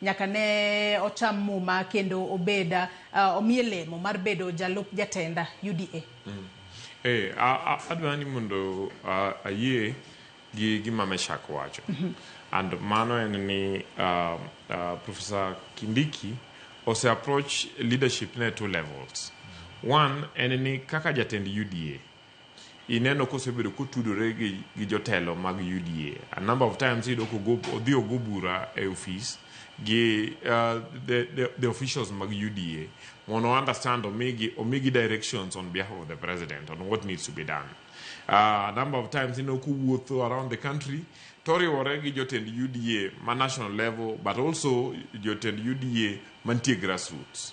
Nyaka ne ocham muma kendo obed omiye lemo mar bedo jalup jatenda UDA. Eh, a, a, adwa ni mondo a, ayie gi gima Meshak wacho. And mano en ni uh, uh, Professor Kindiki ose approach leadership ne two levels. One en ni kaka jatend UDA ineno kosebedo kotudore gi, gi jotelo mag UDA. A number of times iyudo kogo odhi ogo bura e ofis gi uh, the, the, the officials mag UDA mondo understand omigi omigi directions on behalf of the president on what needs to be done. Uh, a number of times ineno kowuotho around the country toriwore gi jotend UDA ma national level but also jotend UDA mantie grassroots.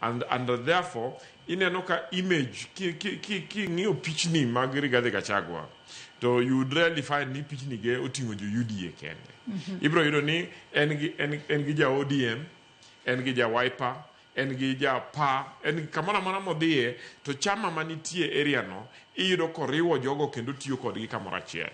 And, and therefore ineno ka image king'iyo pichni mag Rigathi Gachagua to you would rarely find ni pichni ge oting'o jo UDA kende mhm. ibiro yudo ni en gi en, en gi ja ODM en gi ja Wiper en gi ja pa en kamoro amora modhiye to chama manitie area no iyudo koriwo jogo kendo tiyo kodgi kamoro achiel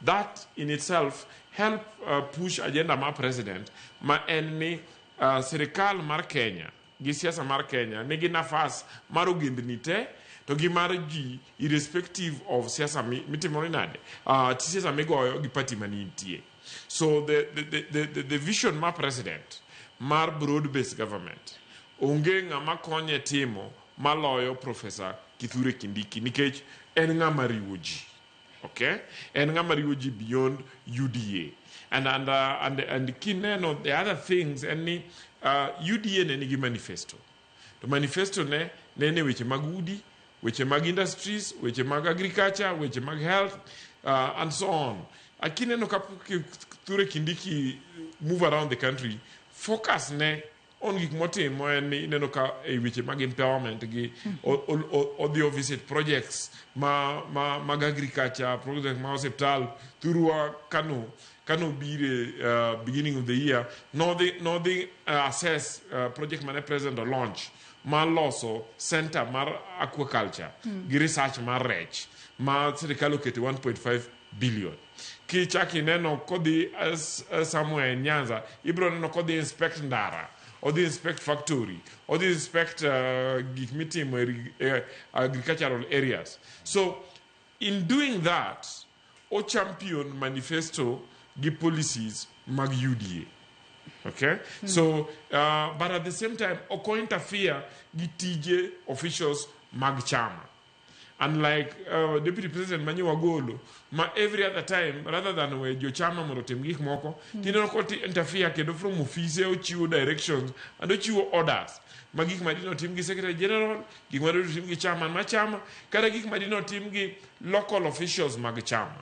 that in itself help uh, push agenda ma president ma en ni Uh, sirikal mar Kenya gi siasa mar Kenya nigi nafas mar ogendni te to gi mar ji irrespective of siasa mitimore nade uh, siasa migoyo gi party manitie so the, the, the, the, the vision mar president mar broad based government onge ng'ama konye timo maloyo profesa kithure kindiki nikech en ng'ama riwo ji Okay? And ng'ama riwo ji beyond UDA. And, and, uh, and, and kineno the other things en ni uh, UDA ne nigi manifesto. To manifesto ne ne ne weche mag udi, weche mag industries, weche mag agriculture, weche mag health uh, and so on. Akineno ka Kithure Kindiki move around the country, focus ne on gik motimo en ni ineno ka e weche mag empowerment gi odhi ovisit projects ma, ma, mag agriculture project ma hospital thurwa kano kano bire uh, beginning of the year nodhi nodhi uh, assess uh, project mane president o launch ma loso center mar aquaculture mm. gi research mar rech ma sirikal oketo 1.5 billion Kichak ineno kodhi uh, somewhere in Nyanza, ibro neno kodhi inspect ndara, odhi inspect factory, odhi inspect uh, gik mitimo uh, agricultural areas. So in doing that, o champion manifesto gi policies mag UDA. Okay? Mm. So, uh, but at the same time, oko interfere gi tije officials mag chama. unlike uh, deputy president ma nyiwa golo ma every other time rather than we jochama mondo otim gik moko mm. tineno koti interfere kendo from office ochiwo directions and ochiwo orders ma gik ma dino tim gi secretary general gik ma dino tim gi chama ma chama kata gik ma dino tim gi local officials mag chama